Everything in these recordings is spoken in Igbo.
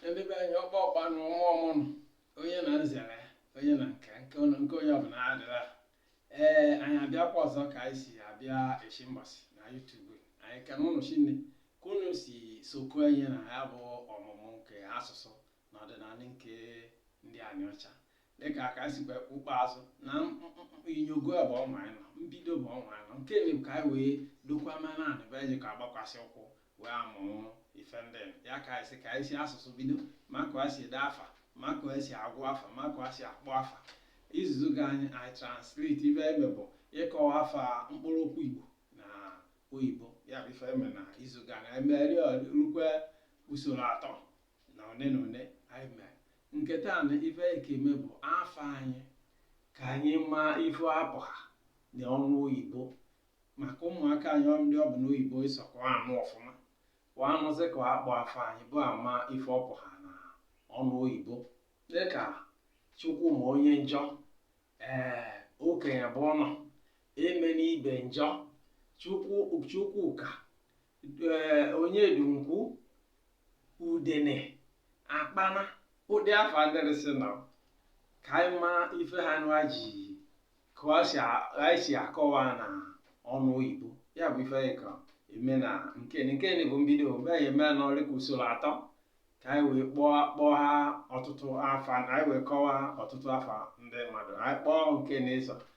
ndị be anyị ọkpa ọkpa na ọmụ ọmụ nụ onye na nzere onye na nke nke onye nke onye ọbụna adịrị a ee anyị abịakwa ọzọ ka anyị si abịa echi mbọsị na YouTube anyị ekene ụnụ shinne ka ụnụ si sokwa anyị na ya bụ ọmụmụ nke asụsụ na ọdịnanị nke ndị Aniocha dịka aka anyị sikwa kpụkpọ azụ na inyogo bụ ọnwa anyị nọ mbido bụ ọnwa anyị nọ nke na ka anyị wee dokwa mana anị ebe anyị ka agbakwasị ụkwụ wee amụrụ ife ndị ya ka anyị si ka anyị si asụsụ bido ma ka anyị si ede afa ma ka anyị si agwụ afa ma ka anyị si akpọ afa izuzu gani anyị translate ife eme bụ ịkọwa afa mkpụrụ okwu igbo na oyibo ya bụ ife eme na izu gani emeri rukwe usoro atọ na one na one anyị mere nke taa na ife anyị ka eme bụ afa anyị ka anyị maa ife ọ pụha na ọnụ oyibo maka ụmụaka anyị ọ ndị ọ bụ n'oyibo sọ ka wa anụ ọfụma ka wa anụzi ka a kpọ afa anyị wa ama ife ọ pụha na ọnụ oyibo dịka Chukwuma onye njọ ee Okenyebụnọ eme n'ibe njọ chukwu Chukwuka onyedunkwu udene akpana ụdị afa adịrịsị nọ ka anyị ma ife ha nụa ji ka ọ si a- anyị si akọwa na ọnụ oyibo ya bụ ife anyị ka eme na nke nke ni bụ mbido mgbe anyị eme na ọrịka usoro atọ ka anyị wee kpọọ kpọọ ha ọtụtụ afa na anyị wee kọwaa ọtụtụ afa ndị mmadụ anyị kpọọ nke na-eso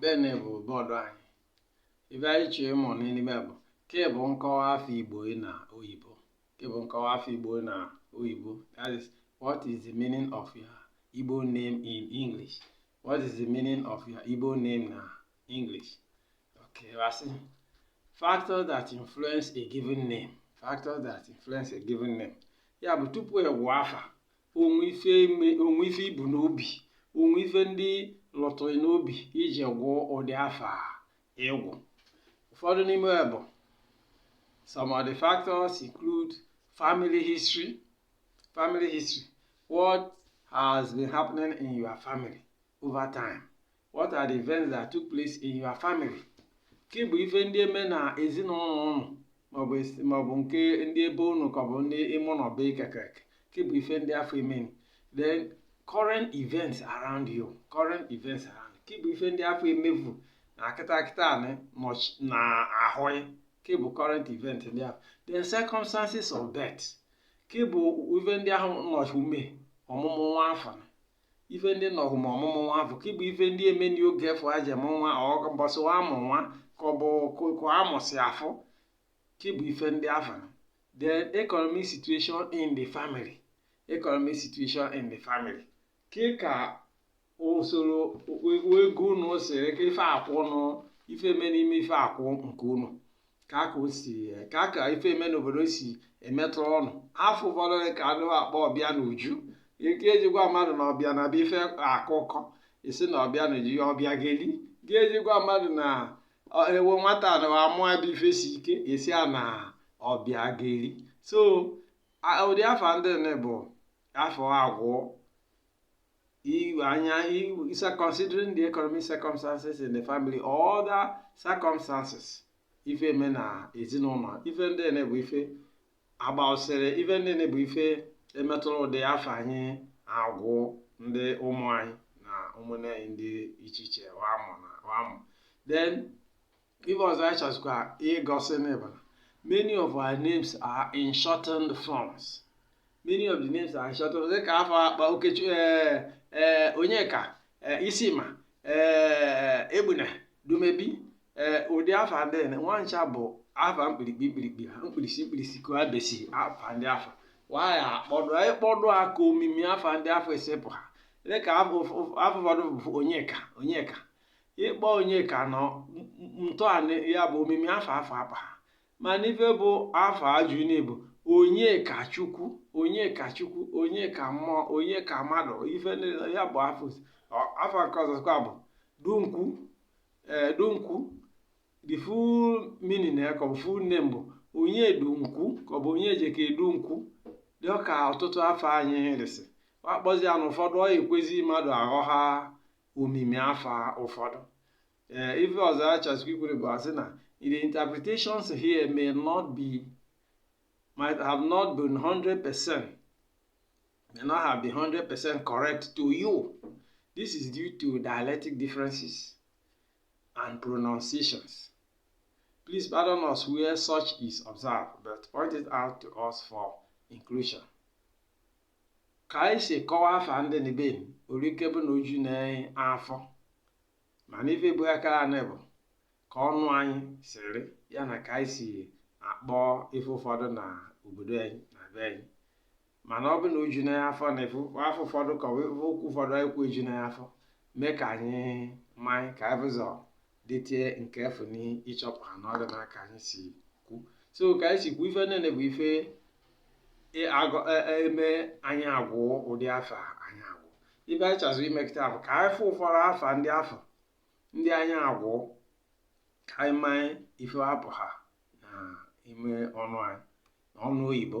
Bene bụ bọọdụ anyị ife anyị chọọ ịmụ n'ime bụ ke bụ nkọwa afa Igbo na oyibo ke bụ nkọwa afa Igbo na oyibo that is what is the meaning of your Igbo name in English what is the meaning of your Igbo name na English okay asị factors that influence a given name factors that influence a given name ya bụ tupu agwụ afa o nwe ife i me o nwe ife i bu n'obi o nwe ife ndị lọtụrụ n'obi i ji gwụọ ụdị afa ị gwụ ụfọdụ n'ime ya bụ some of the factors include family history family history what has been happening in your family over time What are the events that took place in your family? Ke bụ ife ndị eme na ezinụlọ ụnụ maọbụ esi- maọbụ nke ndị ebe ụnụ ka ọ bụ ndị ime ụlọ be kekek ke bụ ife ndị afụ meni then current events around you current events around ke bụ ife ndị afụ emefu na kịta kịta anị nọch- na ahụ ya ke bụ current event ndị ahụ then circumstances of birth ke bụ ife ndị ahụ nọchi ume ọmụmụ nwa afụ na ife ndị nọhụ ma ọmụmụ nwa afụ ke bụ ife ndị emeni oge afụ a ji amụ nwa ọ mbọsị amụ nwa ka ọ bụ ka amụsị afụ ke bụ ife ndị afụ the economic situation in the family economic situation in the family ke ka usoro ego unu siri ka ife akwụ unu ife eme n'ime ife akwụ nke unu ka aka o si ka aka ife eme n'obodo si emetụ unu afa ụfọdụ ka anụ akpọ ọbịanuju ke e ji gwa mmadụ na ọ bịa n'ebe ife akụkọ esi na ọbịanuju ya ọbịageli ga-eji gwa mmadụ na ewo nwata na amụ ebe ife si ike esi a na ọbịageli so ụdị afa ndị bụ afa agwụ If, if considering the economic circumstances in the family or other circumstances ife eme na ezinụlọ ife ndị ene bụ ife agbaụsịrị ife ndị ene bụ ife emetụrụ ụdị afa anyị agwụ ndị ụmụ anyị na ụmụnne anyị ndị iche iche wa mụ na wa mụ then Ife ọzọ anyị chọzikwa igosi ni bụ na many of our names are in shortened forms. Many of the names are in shortened forms. Dịka afa akpọ Okechu ee ee Onyeka ee Isima ee Egbuna Dumebi ee ụdị afa ndị a nwa ncha bụ afa mkpirikpi mkpirikpi ha mkpirisi mkpirisi ka ha besi afa ndị afụ waya akpọdụ anyị kpọdụ ha ka omimi afa ndị afụ esi pụha dịka afa ụf- ụf- afa ụfọdụ bụ Onyeka Onyeka ịkpọ onyeka nọ ntọala ya bụ omimi afa afụ akpa ha mana ife bụ afa ajụ n'igbo onye ka chukwu onye ka chukwu onye ka mmụọ onye ka mmadụ ife ya bụ afa afụ nke ọzọkwa bụ dunkwu ee dunkwu the full meaning ya ka ọ bụ full name bụ onye dunkwu ka ọ bụ onye jeka edunkwu dị ka ọtụtụ afa anyị resị akpọzi ya na ụfọdụ ọ ekwezi mmadụ aghọha omimi afọ ụfọdụ ee ife ọzọ a chọsikwa ikwere bụ asị na the interpretations here may not be might have not been 100 percent may not have been 100 percent correct to you this is due to dialectic differences and pronunciations please pardon us where such is observed but point it out to us for inclusion ka anyị si kọwa afa ndị na be anyị orike bụ na o ju na afọ mana ife bụ akara anị bụ ka ọnụ anyị siri ya na ka anyị si akpọ ife ụfọdụ na obodo anyị na be anyị mana ọ bụ na o ju na afọ na ife afa ụfọdụ ka okwu ụfọdụ anyị kwu eju na afọ mee ka anyị manye ka anyị bụzọ detie nke efu na ịchọpụha na ọ dị na ka anyị si kwu so ka anyị si kwu ife niile bụ ife e, e, eme anyị agwụ ụdị afa anyị agwụ ife anyị chọzụ ime kịta bụ ka anyị fụ ụfọdụ afa ndị afụ ndị anyị agwụ ka anyị manye ife apụha na ime ọnụ anyị ọnụ oyibo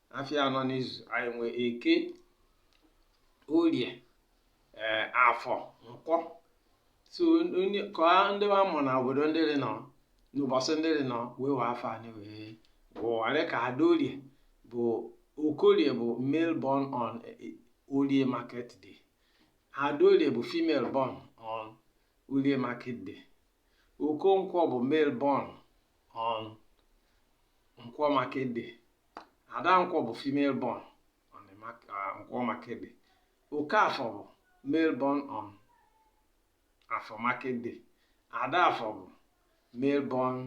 afịa anọ n'izu anyị nwee eke orie ee afọ nkwọ so onye ka ndị wa mụ na obodo ndị dị nọ n'ụbọchị ndị dị nọ wee wee afa anyị wee wụwarị ka ada orie bụ okorie bụ male born on eh, orie market day ada orie bụ female born on orie market day okonkwo bụ male born on nkwọ market day ada nkwọ bụ female born on the mark- ah, nkwọ market day okafọ bụ male born on afọ market day ada afọ bụ male born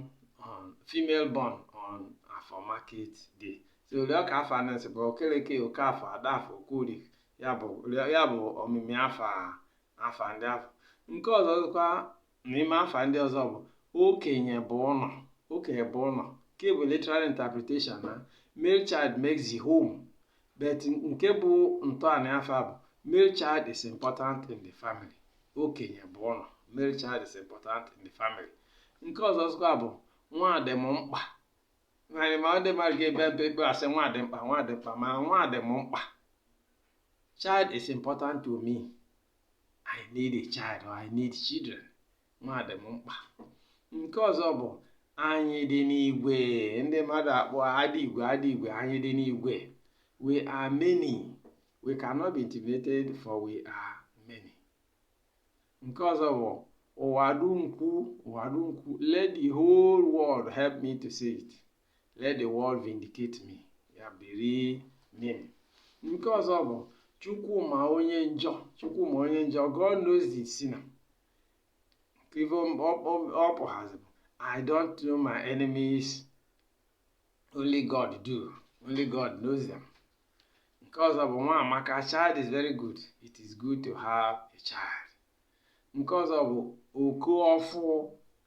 on female born on afọ market day so rịọ ka afa anọ si bụ okeleke okafọ ada afọ okorie ya bụ rịọ- ya bụ omimi afa a- afa ndị afụ nke ọzọ dịkwa N'ime afa ndị ọzọ bụ okenye bụ ụnọ okenye bụ ụnọ nke bụ literal interpretation na male child makes the home but nke bụ ntọana afa bụ male child is important in the family okenye bụ ụnọ male child is important in the family nke ọzọ dịkwa bụ nwa dị m mkpa narị ma ndị mmadụ ga-ebe mpe mpe asị nwa dị mkpa nwa dị mkpa ma nwa dị m mkpa child is important to me I need a child or I need children. Nwa dị m mkpa. Nke ọzọ bụ anyị dị n'igwe. Ndị mmadụ akpọ adị igwe adị igwe anyị dị n'igwe. We are many. We cannot be intimidated for we are many. Nke ọzọ bụ ụwa du m kwu ụwa du m kwu let the whole world help me to say it. Let the world vindicate me. Ya bụ the meaning. Nke ọzọ bụ Chukwu ma onye njọ. Chukwu ma onye njọ. God knows the sinner. Nke ife ọ pụhazi bụ I don't know my enemies. Only God do. Only God knows them. Nke ọzọ bụ nwa amaka child is very good. It is good to have a child. Nke ọzọ bụ oku ọfụ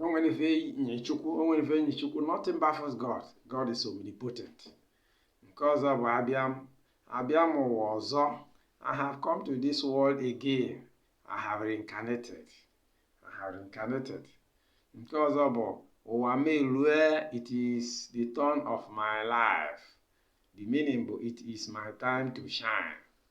o nwene ife nyị chukwu o nwene ife nyị chukwu nothing baffles god god is omnipotent nke ọzọ bụ abịa m abịa m ụwa ọzọ i have come to this world again i have reincarnated i have reincarnated nke ọzọ bụ ụwa m elue it is the turn of my life the meaning bụ it is my time to shine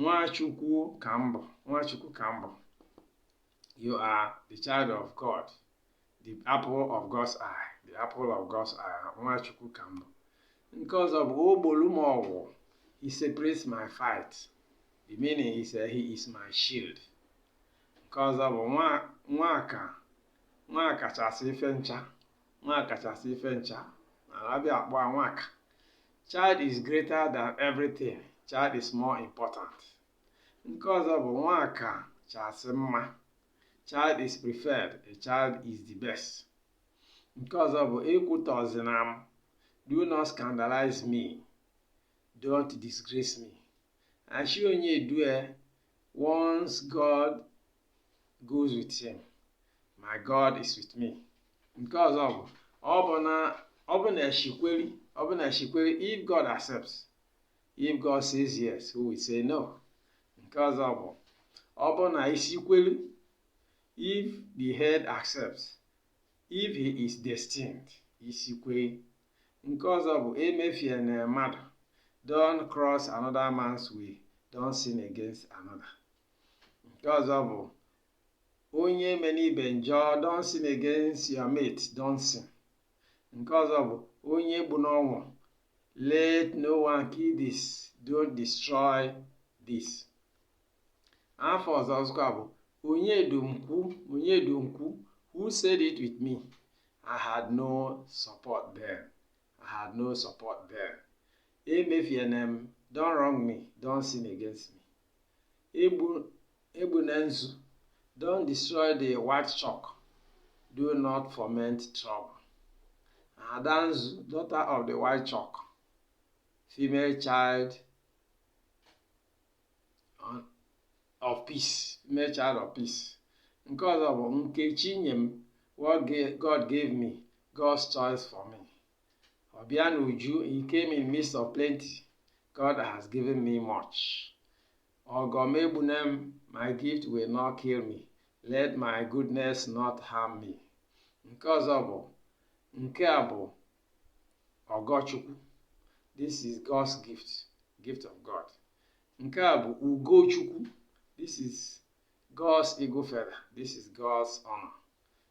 Nwachukwu ka m bụ Nwachukwu ka m bụ you are the child of God the apple of God's eye the apple of God's eye Nwachukwu ka m bụ nke ọzọ bụ o gbolu m ọgụ he separates my fight the meaning is uh, he is my shield nke ọzọ bụ nwa ka nwa kachasị ife ncha nwa kachasị ife ncha na abịa akpọ nwaka Child is greater than everything. Child is more important. Nke ọzọ bụ nwa ka chasị mma. Child is preferred. A child is the best. Nke ọzọ bụ ekwutọzina m. Do not scandalize me. Don't disgrace me. Ashi onye due once God goes with him my God is with me nke ọzọ bụ ọ bụ na ọ bụ na ashi kweri ọ bụ na ashi kweri if God accepts if God says yes who will say no nke ọzọ bụ ọ bụ na isikweri if the head accepts if he is destined isikweri nke ọzọ bụ emefiena mmadụ don't cross another man's way don't sin against another nke ọzọ bụ onye emena ibe njọ don't sin against your mate don't sin nke ọzọ bụ onye egbuna ọnwa let no one kill this don't destroy this afa ọzọ ọzọkwa bụ onye du m kwu onye du m kwu who said it with me i had no support there i had no support there emefiene m don't wrong me don't sin against me egbu egbune nzu don't destroy the white chalk do not foment trouble ada nzu daughter of the white chalk female child of peace female child of peace nke ọzọ bụ nke chi nye m what God gave me God's choice for me ọbịa na uju he came in midst of plenty God has given me much ọgọ m egbune m my gift will not kill me let my goodness not harm me nke ọzọ bụ nke a bụ ọgọchukwu this is God's gift gift of God nke a bụ ugochukwu this is God's eagle feather this is God's honor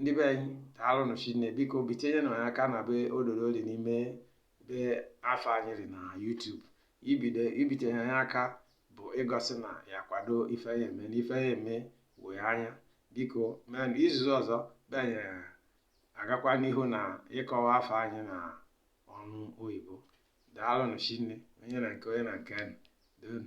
ndị be anyị daalụnụ shinne biko bitinyenụ anyị aka na ebe ododo dị n'ime ebe afa anyị dị na YouTube ibido ibitinye anyị aka bụ igosi na ya kwado ife anyị eme na ife anyị eme wee anya biko mee na izuzu ọzọ be anyị agakwa n'ihu na ịkọwa afa anyị na ọnụ oyibo daalụnụ shinne onye na nke onye na nke anyị donu